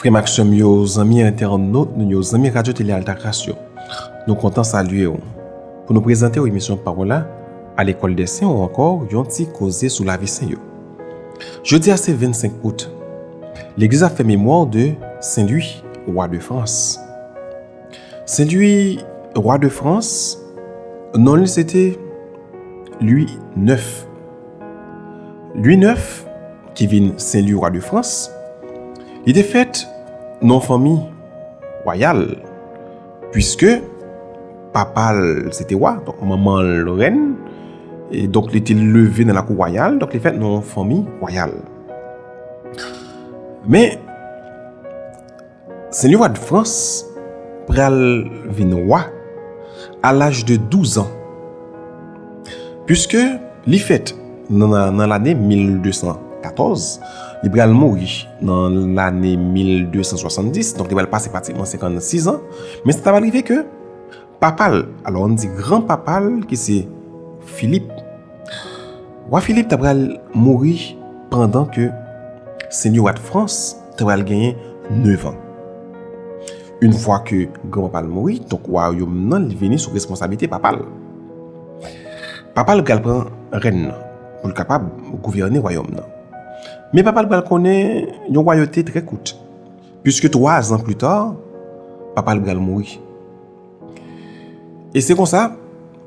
Frè m ak sè m yo, zanmi entènot nou yo, zanmi Radyo Tele Altagras yo, nou kontan salye ou pou nou prezante ou emisyon Pawòl a Lekòl dè Sen ou ankò yon ti koze sou lavi Sen yo. Jodi a se 25 out. Legliz ap fè memwa de Sen Lwi, Wa de Frans. Sen Lwi, Wa de Frans, non li se te Lwi 9. Lwi 9, ki vin Senlwi Wa de Frans, li te fèt nan yon fanmi wayal, pwiske papa l se te wa, donk manman l rèn, e donk li te leve nan lakou wayal, donk li fèt nan yon fanmi wayal. Men, Sen Lewa de Frans pral vin wa a laj de 12 an. Piske li fèt nan lane 1214, li pral mouri nan lane 1270, donk li pral pase pratikman 56 an, men sa ta pral rive ke, Papa l, alò ann di gran papa l ki se Filip. Wa Filip ta pral mouri pandan ke Senyè wa Dfrans ta pral genyen nevan. Yn fwa ke gran papa l mouri, donk wayom nan li vini sou responsablite papa l. Papa l pral pran rèn nan pou l kapab gouvène wayòm nan. Men papa l pral konnen yon wayote trè kout. Puiske 3 ans plus tard, papa l bral mouri. E se konsa,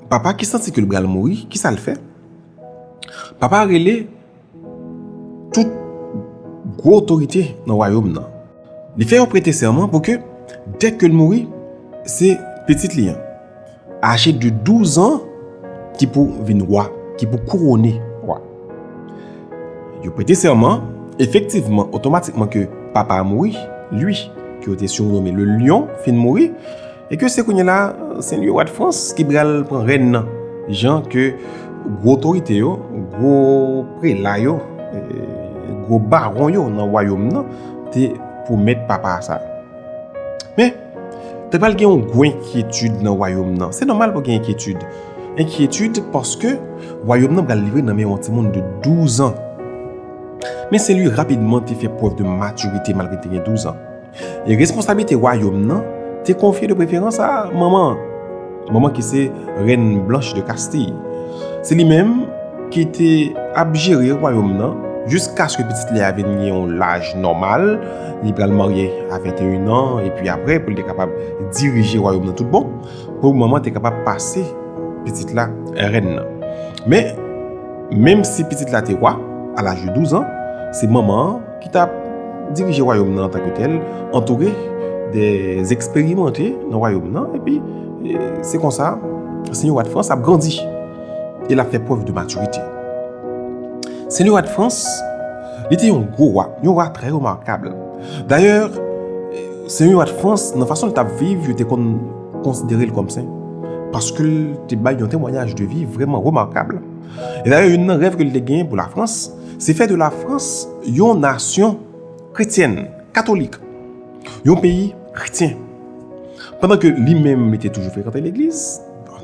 papa ki santi ke l bral mouri, kisa l fè? Papa rele tout gwo otorite nan wayom nan. Li fè yo prete sèman pou ke dèke l mouri, se pitit li an. Aje de 12 an ki pou vin wa, ki pou kourone wa. Yo prete sèman, efektivman, otomatikman ke papa a mouri, li, ke yo te sirnome le Lyon, fin mouri, e ke se kounye la, se li wa de Frans ki pral pran rèn nan, jan ke gwo otorite yo, gwo prela yo, gwo baron yo nan wayom nan te pwomèt papa a sa. Men! Te pral gen yon gwo enkyetid nan wayom nan. Se nòmal pou gen enkyetid. Enkyetid paske wayom nan pral livre nan men yon timoun de 12 an. Men se li rapidman te fè prèv de matirite malgre li te gen 12 an. E responsablite wayom nan te konfye de preferans a manman an. Manman ki se Rèn Blanch de Kastiy. Se li menm ki te ap jere wayòm nan jiskaske pitit li a vin gen yon laj nòmal, li pral marye a 21 an epi aprè pou li te kapab dirije wayòm nan tout bon, pou manman te kapab pase pitit la rèn nan. Men, menmsi pitit la te wa a laj de 12 an, se manman an. ki t ap dirije Wayòm nan antanke tèl, antoure de eksperimante nan Wayòm nan, epi se konsa Senyè Wad Frans ap grandi e l ap fè prèv de matirite. Senyè Wad Frans, li te yon gwo wa, yon wa trè remakab. Dayè, Senyè Wad Frans, nan fason l t ap viv, yo te konn konsidere l kòm sen, paske l te bay yon temwayaj de vi vrèman remakab. E dayè, youn nan rèv ke l te gen pou Lafrans, Se fè de la Frans yon nasyon kretyèn, katolik, yon peyi kretyen. Pandan ke li menm li te toujou frekante legliz,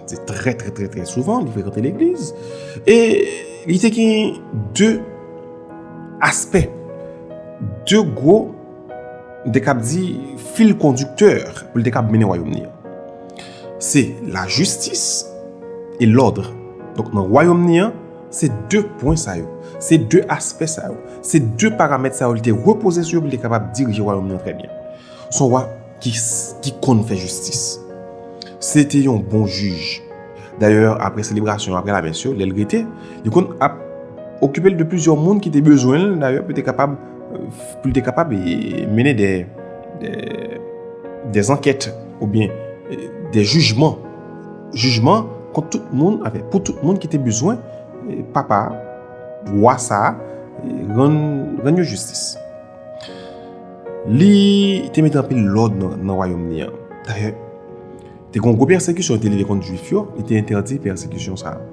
se trè trè trè trè souvan li frekante legliz, e li te gen de aspè, de gwo, m te kab di, fil kondiktè pou li te kab mennen wayom ni an. Se la jistis e lòdre. Donk nan wayom ni an, Se de pwen sa yo, se de aspè sa yo, se de paramèt sa yo li te repoze sou yo pou li te kapab dirije wayòm nan trè byen. S on wa ki konn fè jistis. Se te yon bon jij. Dayè, apre selebrasyon, apre lamès yo, lè l rete, li konn ap okipe l de plizyè moun ki te bezwen l dayè pou li te kapab mennen de zankèt oubyen de jijman. jijman kont tout moun, avè pou tout moun ki te bezwen papa wa sa a rann yo jistis. Li te mete anpil lòd nan wayòm li an. Dayè, te kon gwo pèsekisyon te leve kont jwif yo, li te entèdi pèsekisyon sa a.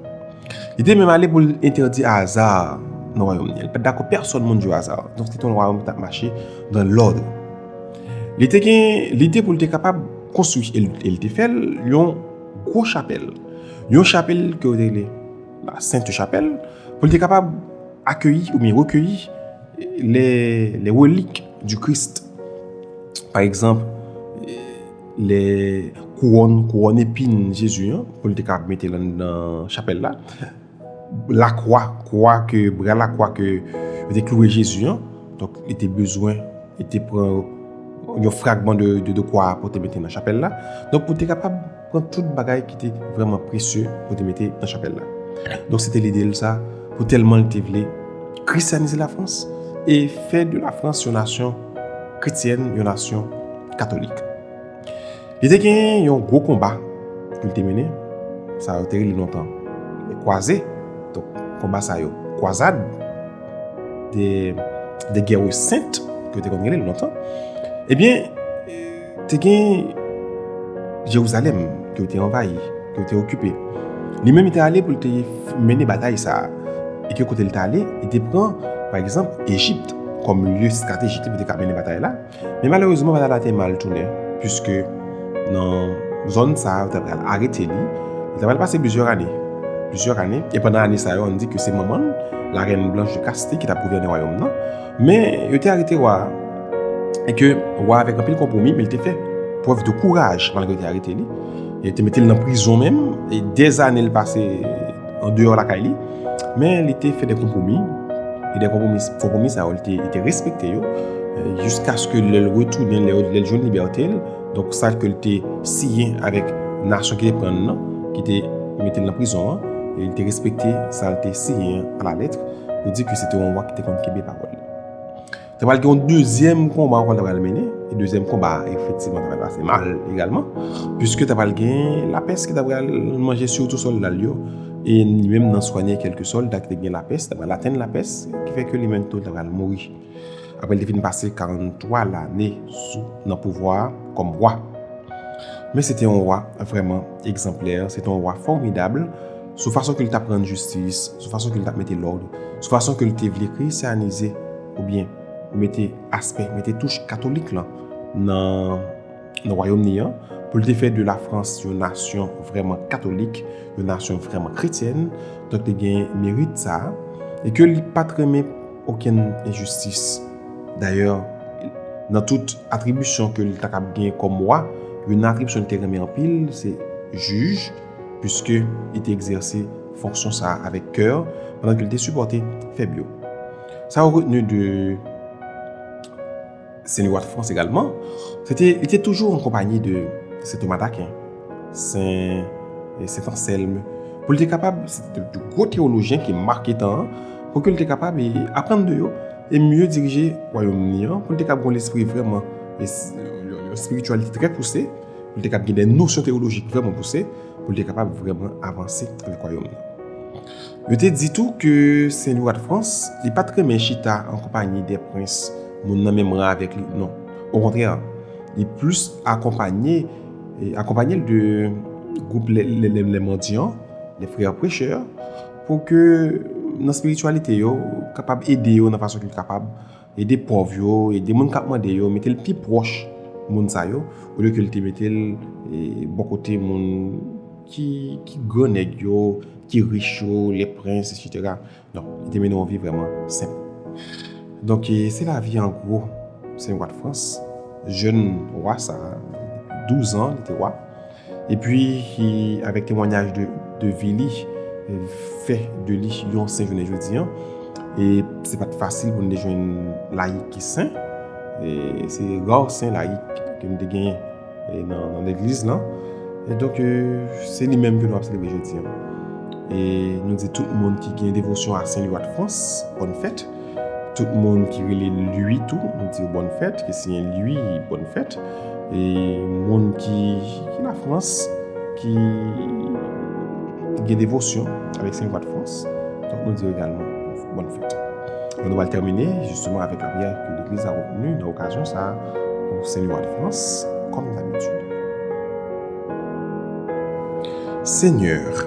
Li te menm ale pou li entèdi aza nan wayòm li an. Li pa t dakò pèsòn moun jwe aza. Donk, se te yon wayòm ki t ap mache nan lòd. Li te gen lide pou l te kapab konstwi, e l te fè l, yon gwo chapèl. Yon chapèl ke yo te rele la Sent Chapèl, pou l te kapab akeyi ou byen rekeyi le relik di Krist. Pa egzanp, le kouwòn, kouwòn epin Jezi an, pou l te kapab mete l anndan chapèl la. Lakwa, kwa ke, bra lakwa ke yo te klouwe Jezi an, donk li te bezwen, li te pran yon fragman de kwa a pou te mete nan chapèl la, donk pou te kapab pran tout bagay ki te vreman presye pou te mete nan chapèl la. Donk se te lide l sa, pou tèlman li te vle krisyanize Lafrans e fè de Lafrans yon nasyon kretyèn, yon nasyon katolik. Li te gen yon gwo konba pou l te mennen, sa yo te rele lontan de kwaze, donk konba sa yo kwazad, de de gere sent yo te konn rele l lontan. Ebyen, te gen Jerizalèm ke yo te anvayi, ke yo te okipe. Li menm li te ale pou l te mennen batay sa a. E ke kote li te ale, li te pran pa egzanp Ejipt kòm lye estratejik li pou l te ka mennen batay la. Men malerezman patata te mal tounen puiske nan zòn sa yo ta pral arete li, li ta pral pase plizyè ane. Plizyè ane, e pandan ane sa yo an di ke se manman la rèn blanch de kaste ki ta gouvène wayòm nan. Men yo te arete wa a, e ke wa a avèk anpil konpwomi men li te fè prèv de kouraj malgre yo te arete li, yo te mete l nan prizon menm, e dèzane l pase. an deyò lakay li, men li te fè de konpwomi, e de konpwomi sa yo li te respekte yo, jiskaske lè l retounen, lè l jwenn libète l, donk sa ke l te siyen avèk nasyon ki te pran l nan, ki te mete l nan prizon an, li te respekte sa l te siyen a la letre, pou di ke se te yon wa ki te konn kenbe pawòl li. Te pral gen yon dezyèm konba ankò te pral mennen, e dezyèm konba a efektivman te pral pase mal egalman, piske te pral gen lapès ki te pral manje sitou sòlda l yo, e li menm nan swanye kèlke sòlda ki te gen lapès, te pral atenn lapès, ki fè ke li menm tou te pral mouri. Aprè l te fin pase 43 lane sou nan pouvwa a kòm wa. Men se te yon wa vrèman egzanplè, se te yon wa fòmidab. sou fason ke li tap rann jistis, sou fason ke li tap mete lòd, sou fason ke li te vle kresyanize oubyen mete aspè, mete touch katolik lan nan wayom ni an, pou li te fè de la Frans yon nasyon vreman katolik, yon nasyon vreman kretyèn, donk te gen merit sa a, e ke li pat renmen okenn enjistis. Dayè, nan tout atribisyon ke li ta kab gen kòm wa, yon atribisyon li te renmen anpil, se jij, Piske li te egzèse fonksyon sa a avèk kè, pandan ke li te sipòte fèb yo. Sa ou retenu de Sen Lewa de Frans egalman, se te li te toujou an konpanyi de Sen Toma Daken, Sen Anselme, pou li te kapab, se te de gwo tewolojyen ki make tan an, pou ke li te kapab e aprann de yo, e mye dirije wayòm li an, pou li te kapab gen yon lespri vrèman, yon espirityalite trè pouse. pou l te kab gen de nosyon teyolojik vrèman pouse, pou l te kapab vrèman avanse avèk wayòm nan. Yo te di tou ke Sen Lwa de Frans, li pa t renmen chita an konpayi de prens moun nan menm ran avèk li, non. Okontrè, li plis akonpaye, akonpaye l de gwoup lè mandyan, lè frè prechè, pou ke nan spirityalite yo kapab ede yo nan fason ki kapab, Ede pòv yo, ede moun k ap mande yo, mete l pi pwòch moun sa yo, olye ke l te mete l bò kote moun ki gran nèg yo, ki rich yo, lè prens, eswetera. Donk, li te mennen yon vi vrèman senp. Donk, se lavi an gwo Sen Gwatfrans, jèn wa sa a, douzan li te wa. E pi, avèk temwanyaj de vi li, fè de li yon sen jounen jodi an. E se pa t fasil pou nou te jwenn layik ki sen. Se ra sen layik ke nou te genyen nan legliz lan. E donk, se li menm ke nou ap selebre jodi an. E nou di tout moun ki gen devosyon a Sen Liwa de Frans, bòn fèt. Tout moun ki rele Lwi tou, m di yo bòn fèt, ki siyen Lwi, bòn fèt. E moun ki Lafrans, ki gen devosyon avèk Sen Vwad Frans, tout moun di yo egalman bòn fèt. E nou wal tèmine, jisteman, avèk la priyè ke Legliz la reteni nan okazyon sa a pou Sen Vwad Frans, kòm dabitid. Seigneur.